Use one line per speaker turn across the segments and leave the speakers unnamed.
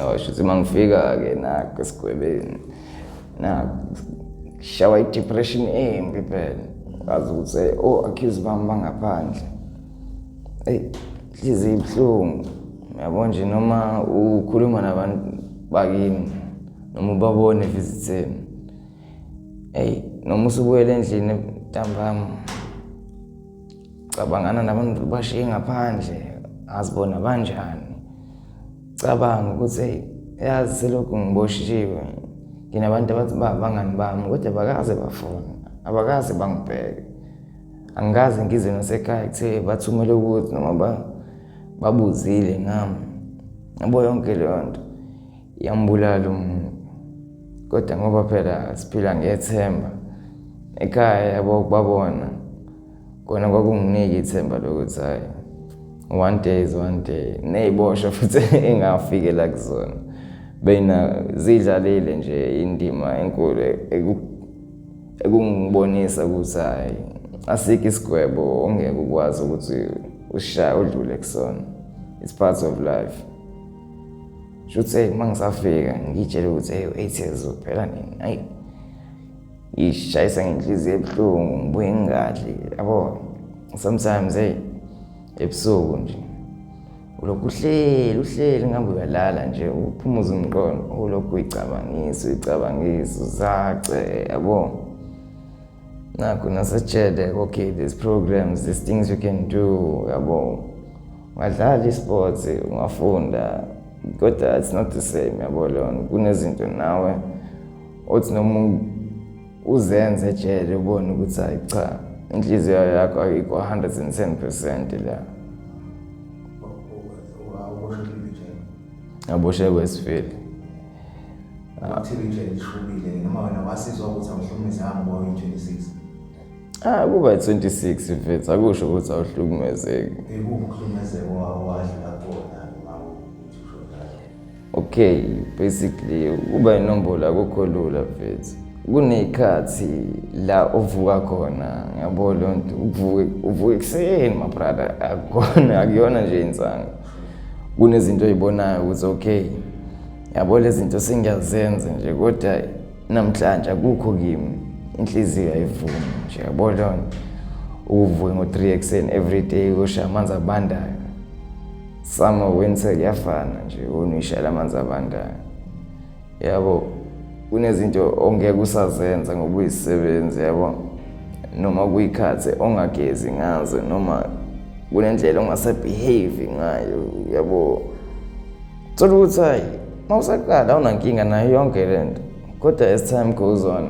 Oh, shuthi uma ngifika-ke nakho esigwebeni nakho shawa i-depression embi phela ngazi ukuthi eh, o-accuse oh, bami bangaphandle eyi nhliziyo ibuhlungu uyabo nje noma ukhuluma nabantu bakini noma ubabone visitheni eyi noma usubuyela endlini ntambama cabangana nabantu bashiye ngaphandle azibona banjani cabanga ukuthi eyi yazi selokhu ngiboshiwe nginabantu abathi ba bangani bami kodwa bakaze bafuna abakaze bangibheke angikaze ngize nasekhaya kuthe bathumele ukuthi noma babuzile ngami yabo yonke leyo nto yambulala umuntu kodwa ngoba phela siphila ngethemba ekhaya yabo kubabona kona kwakunginika ithemba lokuthi hhayi one day is one day ney'boshwa futhi engafikela kuzona beyina zidlalile nje indima enkulu ekungibonisa ukuthi hhayi asikho isigwebo ongeke ukwazi ukuthi ushaye udlule kusona it's part of life shuthi eyi uma ngisafika ngiyitshele ukuthi eyi u-eight years old phela nini ayi ishayisa ngenhliziyo ebuhlungu ngibuye ngingadli yabo sometimes hey ebusuku nje ulokhu uhleli uhleli ngihambe uyalala nje uphumuza umqondo ulokhu uyicabangisa uyicabangisa uzace yabo nakho nasatshele okay these programs these things you can do yabo ungadlala i-sports ungafunda kodwa it's not the same yabo leyo kunezinto nawe othi noma uzenze ejele ubone ukuthi hayi cha inhliziyo yakho ayikho 110 percent la aboshe kwesifeli athile
nje lishubile noma wena wasizwa ukuthi awuhlukumezanga ngoba uyi-26 Ah kuba 26
mfethu akusho ukuthi awuhlukumezeki. Ekuhlukumezeka
wawadlula
okay basically ukuba inombolo akukho lula mfethu kuney'khathi la uvuka khona ngiyabo leyo nto uvuke uvuke ekuseni mabrada akukona akuyona nje insanga kunezinto oy'bonayo ukuthi okay yabo lezi zinto sengiyazenza nje kodwa namhlanje akukho kimi inhliziyo ayivumi nje yabo leyo nto uvuke ngo-three ekuseni every day usha amanzi abandayo Summer winter kuyafana nje unishela amanzi abandayo. Yabo kunezinto ongeke usazenza ngoba uyisebenzi yabo noma kuyikhathi ongagezi ngazo noma kunendlela ongasebehave ngayo yabo thola ukuthi hayi uma usaqala awunankinga nayo yonke le nto kodwa as time goes on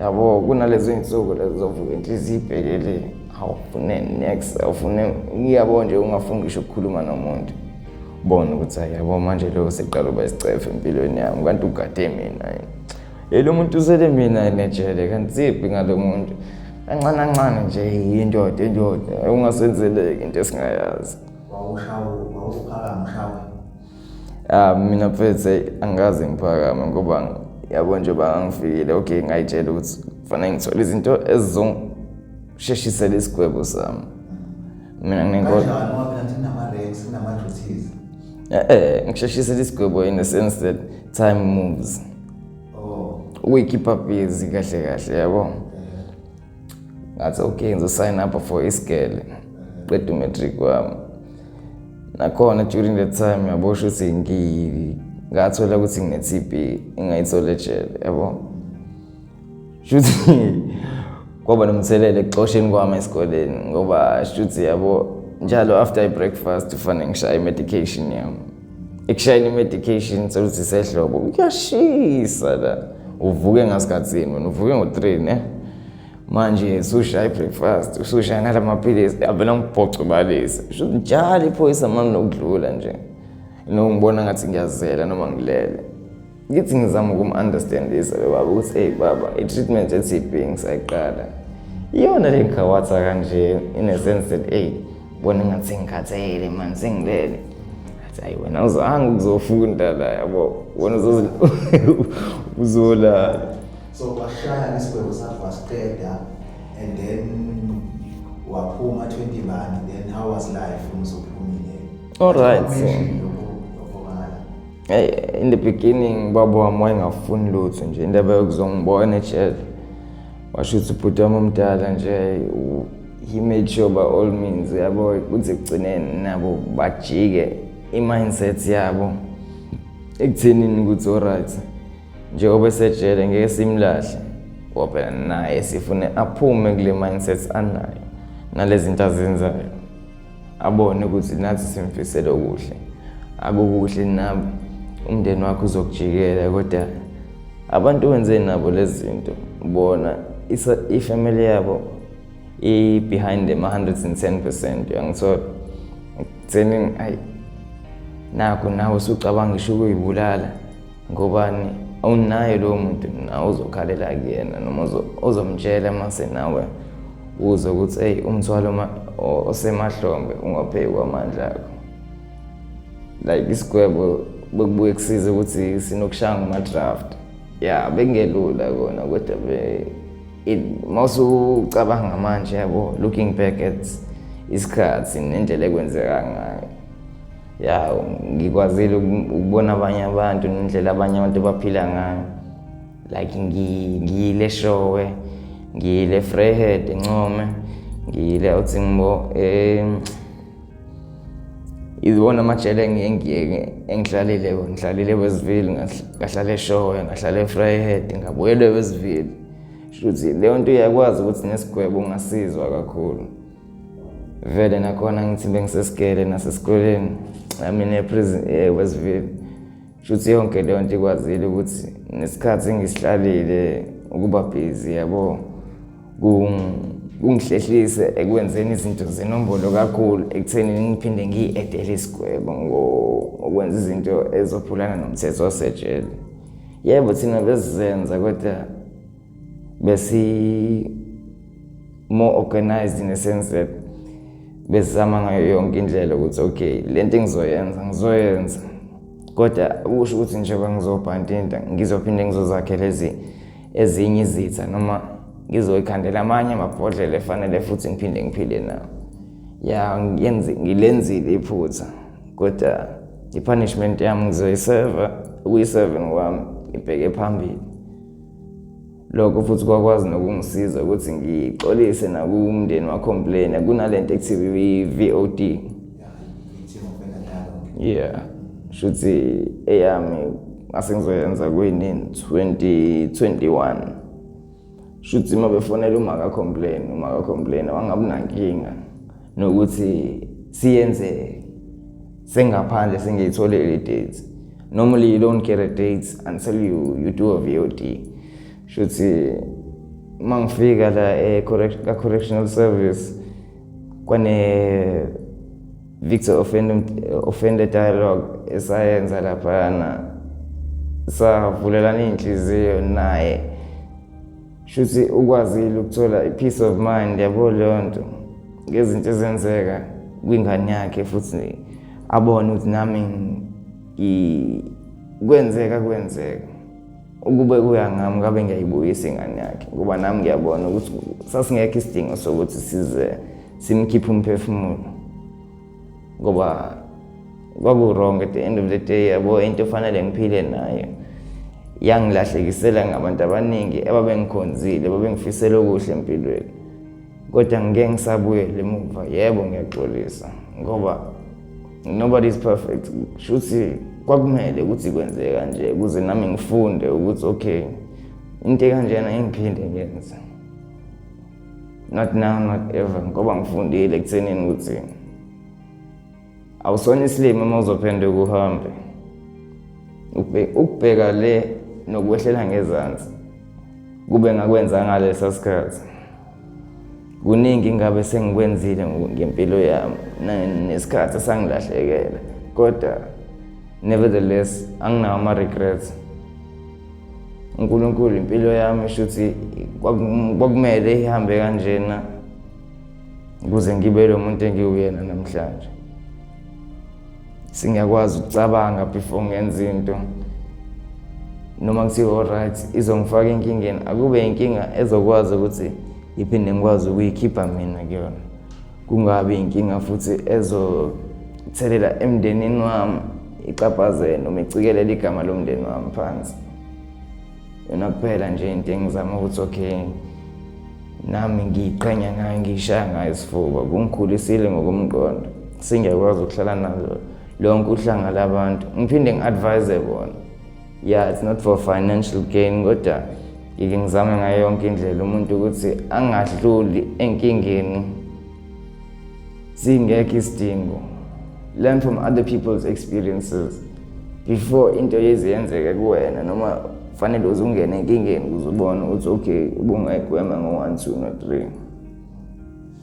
yabo kunalezo iy'nsuku lezo zovuka inhliziyo ibhekeleni awufune next awufune iyabo nje ungafuni ngisho ukukhuluma nomuntu bona ukuthi hayi yabo manje lo seqala uba isicefe empilweni yami kanti ugade mina yini lo muntu usele mina enejele kanti ziphi ngalo muntu kancane kancane nje yindoda indoda ungasenzeleki into esingayazi wawushawu wawuphaka mshawu Ah, mina mfethu angikaze ngiphakame ngoba yabo nje bangifikile okay ngayitshela ukuthi kufanele ngithole izinto ezizongisheshisela isigwebo sami mina nginenkosi eh, eh ngisheshisela isigwebo in the sense that time moves oh. uyikhipha busy kahle kahle yabo yeah. ngathi okay ngizosign up for isigele qeda umatric wami nakhona during that time ngiyabosha ukuthi ngathola ukuthi ngine-tb ingayithole ejele yabo shuthi kwaba nomthelela ekuxosheni kwami esikoleni ngoba shuthi yabo njalo after i-breakfast kufanele ngishaye i-medication yami ekushayeni i-medication sewuzise ehlobo kuyashisa la uvuke ngasikhathini wena uvuke ngo-three ne manje usushaya i-breakfast usushaya nala maphilisi avela ngibhoco balise sho njalo iphoyisa mani nokudlula nje nokungibona ngathi ngiyazela noma ngilele ngithi ngizama ukum-understandisa lo baba ukuthi eyi baba i-treatment ye-tb ngisayiqala iyona le ngigawatha kanje in a sense that eyi bona ngathi sengikhathele mani sengilele athi hayi wena uzange ukuzofunda la yabo wena uzolala so washaya
isigwebo sakho wasiqeda and then waphuma 20 bani then how was life
umuzophumile
all right so.
Hey, in the beginning baba wami wayengafuni lutho nje indaba yokuzongibona ejele washo ukuthi ubhuti wami omdala nje he made sure by all means yabo kuthi ekugcineni nabo bajike i-mindset yabo ekuthenini ukuthi oright njengoba esejele ngeke simlahle ngoba phela naye sifune aphume kule mindset anayo nalezinto azenzayo abone ukuthi nathi simfisele okuhle akukuhle nabo umndeni wakho uzokujikela kodwa abantu wenze nabo lezi zinto bona ifamily yabo i-behind them 110 percent uyangithola ekutheni ayi nakho nawe usucabanga isho ukuyibulala ngobani awunaye lowo muntu nawe uzokhalela kuyena noma uzomtshela mase nawe uze ukuthi eyi umthwalo osemahlombe ungapheyi kwamandla akho like isigwebo bekubuye kusize ukuthi sinokushaya ngama-draft ya bekungelula kona kodwa mawusucabanga manje yabo looking back at isikhathi nendlela ekwenzeka ngayo ya ngikwazile ukubona abanye abantu nendlela abanye abantu baphila ngayo like ngiyile showe ngiyile freehead encome ngiyile uthi ngibo um iwona amajele engihlalile ngihlalile wesivile ngahlala eshowe ngahlala efreehead ngabuyele wesivile shuthi leyo nto iyakwazi ukuthi nesigwebo ungasizwa kakhulu vele nakhona ngithi bengisesigele nasesikoleni amine eprison ewestville shuthi yonke leyo nto ikwazile ukuthi nesikhathi engisihlalile ukuba bhizi yabo kungihlehlise ekwenzeni izinto zenombolo kakhulu ekutheni ngiphinde ngiyi-edele isigwebo ngokwenza izinto ezophulana nomthetho wasejele yebo thina besizenza kodwa besi more organized in a sense that besizama ngayo yonke indlela ukuthi okay le nto engizoyenza ngizoyenza kodwa usho ukuthi njengoba ngizobhantinta ngizophinde ngizozakhela ezi ezinye izitha noma ngizoyikhandela amanye amabhodlela efanele futhi ngiphinde ngiphile nawo ya ngilenzile iphutha kodwa i-punishment yami ngizoyiseva ukuyi-seven kwami ngibheke phambili lokho futhi kwakwazi nokungisiza ukuthi ngixolise nakumndeni wacomplaina kunalento ekuthiwa i-VOD yeah shuthi eyami ngase ngizoyenza kuyinini 2021 shuthi uma befonela umaka complain umaka complain wangabunankinga nokuthi siyenzeke sengaphandle singeyithole le date normally you don't get a date until you, you do a vod shuthi uma ngifika la ka-correctional service kwane-victor offender dialogue esayenza laphana savulelana iy'nhliziyo naye shuthi ukwazile ukuthola i-peace of mind yabo leyo nto ngezinto ezenzeka kwingane yakhe futhi abone ukuthi nami kwenzeka kwenzeka ukube kuya ngami ngabe ngiyayibuyisa ingane yakhe ngoba nami ngiyabona ukuthi sasingekho isidingo sokuthi size simkhiphe umphefumulo ngoba kwaku-wrong at the end of the day yabo into efanele ngiphile nayo yangilahlekisela ngabantu abaningi ebabengikhonzile babengifisela okuhle empilweni kodwa ngike ngisabuyele emuva yebo ngiyaxolisa ngoba nobody is perfect shuthi kwakumele ukuthi kwenzeke kanje ukuze nami ngifunde ukuthi okay into ekanjena ingiphinde ngenze not now not ever ngoba ngifundile ekuthenini ukuthi awusona isilima uma uzophenduka uhambe ukubheka le nokwehlela ngezansi kube ngakwenza ngalesa sikhathi kuningi ngabe sengikwenzile ngempilo yami nesikhathi sangilahlekela kodwa nevertheless anginawo ama-regrets uNkulunkulu impilo yami shuthi kwakumele ihambe kanjena ukuze ngibe lo muntu engiwuyena namhlanje singakwazi ukucabanga before ngenza into noma kuthiwa alright izongifaka enkingeni akube inkinga ezokwazi ukuthi iphinde ngikwazi ukuyikhipha mina kuyona kungabi inkinga futhi ezothelela emndenini wami ixaphazele noma icikelela igama lomndeni wami phansi yona kuphela nje into engizama ukuthi okay nami ngiyiqhenya ngayo ngiyishaya ngayo isifuba kungikhulisile ngokomqondo singiyakwazi ukuhlala nazo lonke uhlanga labantu ngiphinde ngi-advise bona yeah it's not for financial gain kodwa ngike ngizame ngayo yonke indlela umuntu ukuthi angadluli enkingeni singekho isidingo learn from other people's experiences before into yezi yenzeke kuwena noma fanele uze ungene enkingeni ukuze ubone ukuthi okay ubungayigwema ngo-one two no three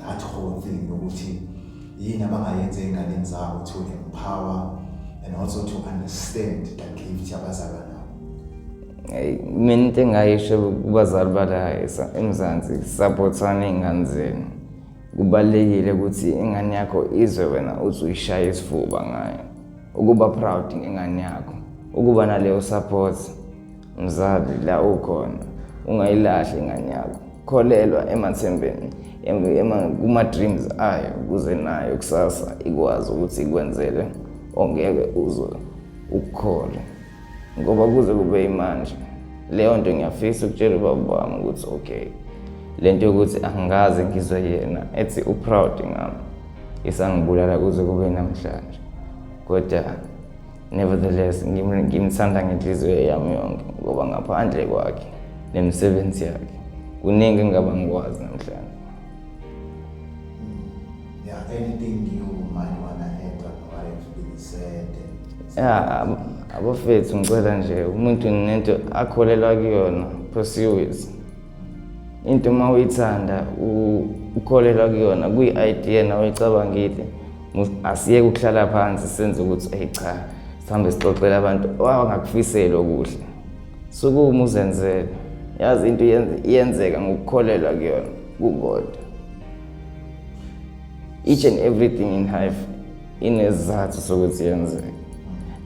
that whole thing yokuthi yini abangayenza ey'nganeni zabo to empower and also to understand the gift yabazalwa nabo Hey, mina into
engayisho kubazali bala emzansi sapothana iy'ngane zenu kubalulekile ukuthi ingane yakho izwe wena uthi uyishaya isifuba ngayo ukuba proud ngengane yakho ukuba naleyo support Mzali la ukhona ungayilahli ingane yakho, kholelwa emathembeni kuma-dreams ayo ukuze nayo kusasa ikwazi ukuthi ikwenzele ongeke uzwe ukukhole ngoba kuze kube imanje leyo nto ngiyafisa ukutshela ubaba wami ukuthi okay le nto yokuthi angikaze ngizwe yena ethi u-proud ngami isangibulala kuze kube namhlanje kodwa Nevertheless, ngimthanda ngenhliziyo yami yonke ngoba ngaphandle kwakhe nemisebenzi yakhe kuningi engaba ngikwazi namhlanje. Hmm.
Yeah, anything you might wanna add on what has
been said? Yeah, abafethu ngicela nje umuntu nento akholelwa kuyona pursue it. into uma uyithanda ukholelwa kuyona kwi-idea nawe uyicabangile asiyeke ukuhlala phansi senze ukuthi eyi cha sihambe sixoxele abantu awangakufiseli okuhle sukuma uzenzele yazi into iyenzeka ngokukholelwa kuyona kukodwa each and everything in life inezizathu sokuthi yenzeke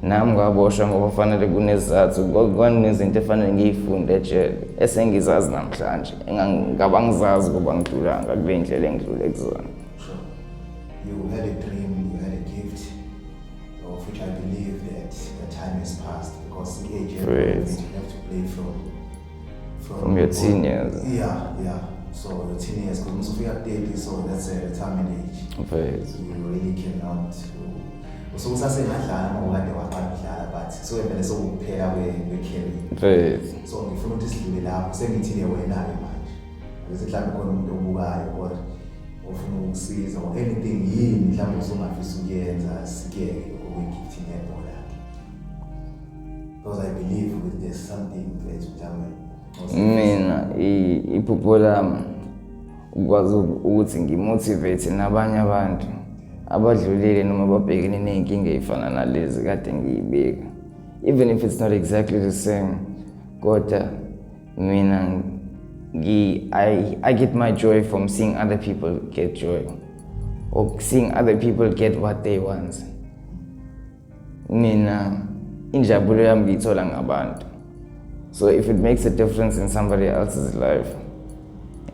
nami ngaboshwa ngoba fanele kunezizathu kwanezinto efanele ngiyifunde ejele esengizazi namhlanje ngaba ngizazi ukuba ngidlulanga kule ndlela engidlule kuzona
You had a dream, you had a gift, of which I believe that the time has passed because the age you have to play from. From your teen years.
Yeah, yeah.
So your teen years, because most of you are daily, so that's a retirement age. Right. So you really cannot. So usasengadlala uma ukade waqala ukudlala but sewevele sekukuphela kwe-carry. Right. So ngifuna ukuthi sidlule lapho sengithile wena-ke manje. Bese mhlawumbe khona umuntu obukayo kodwa ofuna ukusiza or anything yini mhlawumbe usungafisa ukuyenza sikeke okwegifthi nebhola. because i believe ukuthi there's something mfethu mhlawumbe mina
iphupho lami ukwazi ukuthi ngimotivate nabanye abantu abadlulile noma babhekene ney'nkinga ey'fana nalezi kade ngiyibeka even if it's not exactly the same kodwa mina I, I get my joy from seeing other people get joy or seeing other people get what they want. mina injabulo yami ngiyithola ngabantu so if it makes a difference in somebody else's life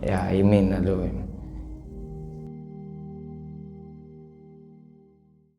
ya yimina loyo